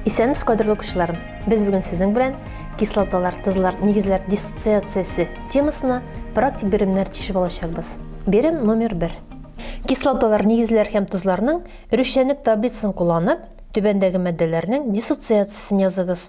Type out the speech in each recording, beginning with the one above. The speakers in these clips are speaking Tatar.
Исәнмесез, кадерле укучыларым! Без бүген сезнең белән кислоталар, тозлар, нигезләр диссоциациясе темасына практик беремнәр тишеп алачакбыз. Берем номер 1. Кислоталар, нигезләр һәм тозларның рүшәнлек таблицасын кулланып, түбәндәге матдәләрнең диссоциациясен языгыз.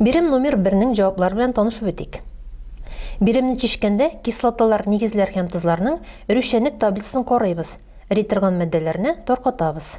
Бирем номер 1-нең җаваплар белән танышып үтик. Биремне чишкәндә кислоталар, нигезләр һәм тозларның рүшәнлек таблицасын карыйбыз. Эри торган матдәләрне таркатабыз.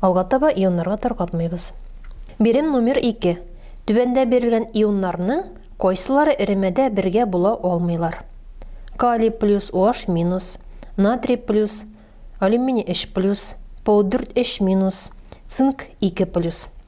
Алга таба ионнарга таркатмыйбыз. Бирем номер ике. Түбәндә бирелгән ионнарның кайсылары эремәдә бергә була алмыйлар? Калий плюс OH минус, натрий плюс, алюминий 3 плюс, P4 3 минус, цинк 2 плюс.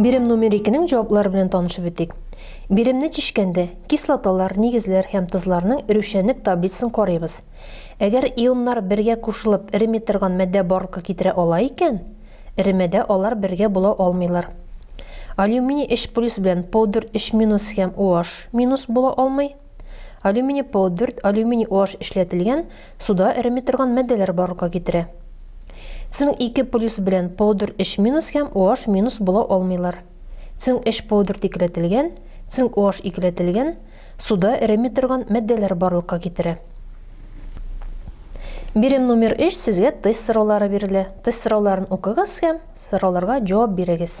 Бирем номер 2-нең җаваплары белән танышып үтик. Биремне чишкәндә, кислоталар, нигезләр һәм тозларның эрүчәнлек таблицасын карыйбыз. Әгәр ионнар бергә кушылып эреми торган матдә барлыкка китерә ала икән, эремәдә алар бергә була алмыйлар. Алюминий 3 плюс белән пудр 3 минус һәм OH минус була алмый. Алюминий P4, алюминий OH эшләтелгән, суда эреми торган матдәләр барлыкка китерә. Цинк 2 плюс белән P4 3 минус һәм OH минус була алмыйлар. Цинк 3 P4 икеләтелгән, цинк OH икеләтелгән, суда эреми торган матдәләр барлыкка китерә. Бирем номер 3 сезгә тест сораулары бирелә. Тест сорауларын укыгыз һәм сорауларга җавап бирегез.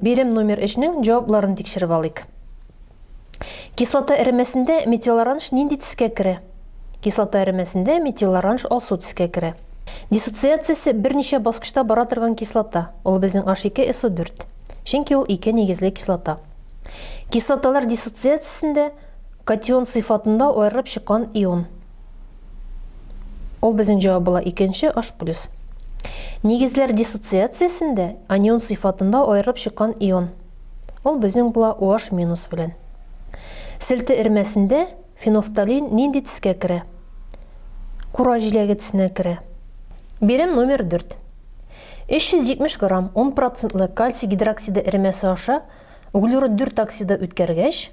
Бирем номер 3-нең җавапларын тикшереп алыйк. Кислота эремәсендә метилоранж нинди төскә керә? Кислота эремәсендә метилоранж алсу төскә керә. Диссоциациясе берничә баскычта бара торган кислота. Ул безнең H2SO4. Чөнки ул ике нигезле кислота. Кислоталар диссоциациясендә катион сыйфатында аерылып чыккан ион. Ул безнең җавап була икенче H+. Нигезләр диссоциациясендә анион сыйфатында аерылып чыккан ион. Ул безнең була OH- белән. Селте эрмәсендә фенофталин нинди тискә керә? Кура җиләге тесенә керә. Бирем номер 4. 370 грамм 10 процентлы кальций гидроксиды эремәсе аша углерод 4 оксиды үткәргәч,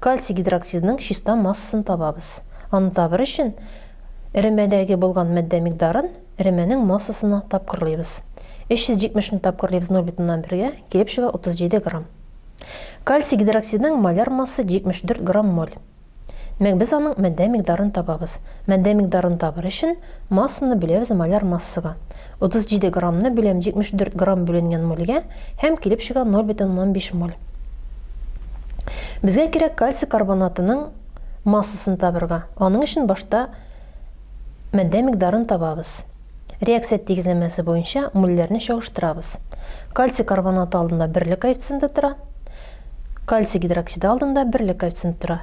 Кальций гидроксидының чиста массасын табабыз. Аны табыр өчен, эремәдәге булган матдә микъдарын эремәнең массасына тапкырлыйбыз. 370 ны тапкырлыйбыз 0,1-гә, килеп чыга 37 грамм. Кальций гидроксидының маляр массы 74 грамм моль. Мәк без аның матдә микъдарын табабыз. Матдә микъдарын табыр өчен, массаны бүләбез маляр массага. 37 граммны бүләм 74 грамм бүленгән мольгә һәм килеп чыга 0,5 моль. Безгә кирәк кальций карбонатының массасын табырга. Аның өчен башта мәддә микъдарын табабыз. Реакция тигезләмәсе буенча мульләрне чагыштырабыз. Кальций карбонаты алдында берлек коэффициенты тора, кальций гидроксиды алдында берлек коэффициенты тора.